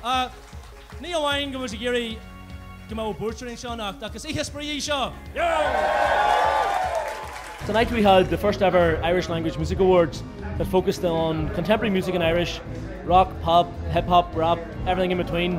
Ach ní amháin go bhfuil siad ag iarraidh go mbeadh buairt orainn seo anocht ach is oíche spraoi í seo! Tonight we had the first ever Irish Language Music Awards that focused on contemporary music in Irish, rock, pop, hip hop, rap, everything in between.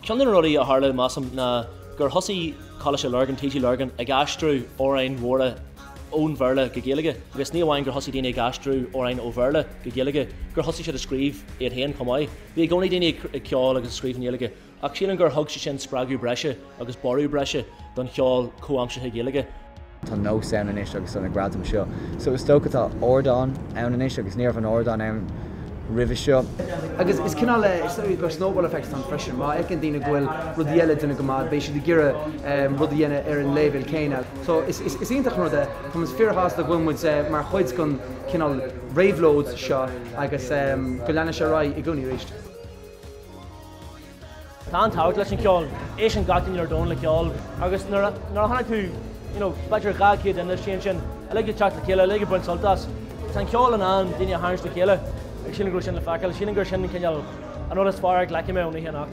Ceann de na rudaí a tharla, measaim, ná gur thosaigh Coláiste Lurgan, TG Lurgan, ag aistriú amhráin mhóra ón Bhéarla go Gaeilge agus ní amháin gur thosaigh daoine ag aistriú amhráin ó Bhéarla go Gaeilge, gur thosaigh siad ag scríobh iad féin chomh maith. Bhí i gcónaí daoine ag ceol agus ag scríobh i nGaeilge ach sílim gur thug sé sin spreagadh breise agus borradh breise don cheol comhaimseartha Gaeilge. Tá nós ann anois agus óna gradam seo so is dócha tá ardán ann anois agus ní raibh an ardán ann roimhe seo. Agus is cineál like go snowball effect atá ann freisin, má fheiceann daoine go bhfuil daoine eile ag déanamh go maith beidh siad ag iarraidh rud a dhéanamh ar an léibhéal céanna. So is is iontach an rud é. Táim fíorshásta go bhfuil muid mar chuid den chineál réabhlóid seo agus go leanfaidh sé ar aghaidh i gcónaí arís. Tá an-tábhacht leis an cheol. Éisteann gach duine ar domhan le ceol agus nuair a tá agat, you know, b'fhéidir dhá chéad duine istigh ansin, uilig ag teacht le chéile, uilig ag baint sult as. Tá an ceol in ann daoine a tharraingt le chéile agus sílim go raibh sin le feiceáil. Sílim gur sin an cineál, an rud is fearr a ghlacfaidh mé ón oíche anocht.